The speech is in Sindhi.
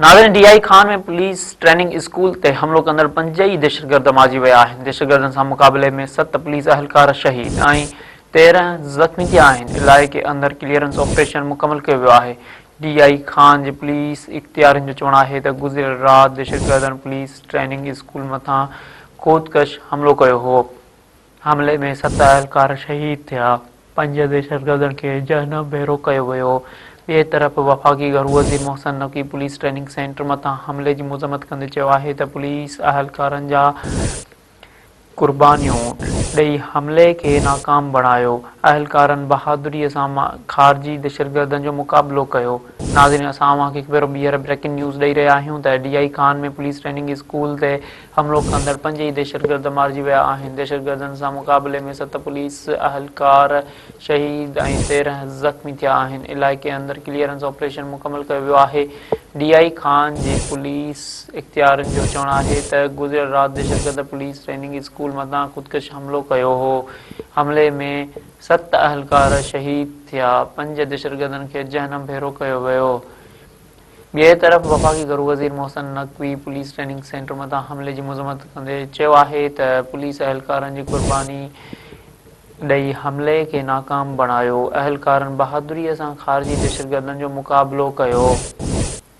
ناظرين D I Khan ۾ police training school تي حملو ڪندڙ پنج ئي دهشتگرد مارجي ويا آهن دهشتگردن سان مقابلي ۾ ست پوليس اهلڪار شهيد ۽ تيرهن زخمي ٿيا آهن علائقي اندر ڪليئرنس آپريشن مڪمل ڪيو ويو آهي ڊي آء خان جي پوليس اختيارين جو چوڻ آهي ته گذريل رات دهشتگردن پوليس ٽريننگ اسڪول مٿان خودڪش حملو ڪيو هو حملي ۾ ست اهلڪار شهيد ٿيا، پنج دهشتگردن کي جهنم ڀيرو ڪيو ويو، ٻئي طرف وفاقي گهرو وزير Mohsin Naqvi police training centre مٿان حملي جي مذمت ڪندي چيو آهي ته پوليس اهلڪارن جا قربانيون ڏئي حملي کي ناڪام بڻايو، اهلڪارن بهادري سان خارجي دهشتگردن جو مقابلو ڪيو. ناظرين اسان اوهان کي هڪ ڀيرو ٻيهر بريڪنگ نيوز ڏئي رهيا آهيون ته D I Khan ۾ police training school تي حملو ڪندڙ پنج ئي دهشتگرد مارجي ويا آهن. دهشتگردن سان مقابلي ۾ ست پوليس اهلڪار شهيد ۽ تيرهن زخمي ٿيا آهن. علائقي اندر ڪليئرنس آپريشن مڪمل ڪيو ويو آهي. ڊي آء جي خان جي پوليس اختيارين جو چوڻ آهي ته گذريل رات دهشتگرد پوليس ٽريننگ اسڪول مٿان خودڪش حملو ڪيو هو. حملي ۾ ست اهلڪار شهيد ٿيا. پنج دهشتگردن کي جهنم ڀيرو ڪيو ويو. ٻئي طرف وفاقي گهرو وزير Mohsin Naqvi police training centre مٿان حملي جي مذمت ڪندي چيو آهي ته پوليس اهلڪارن جي قرباني ڏئي حملي کي ناڪام بڻايو، اهلڪارن بهادري سان خارجي دهشتگردن جو مقابلو ڪيو.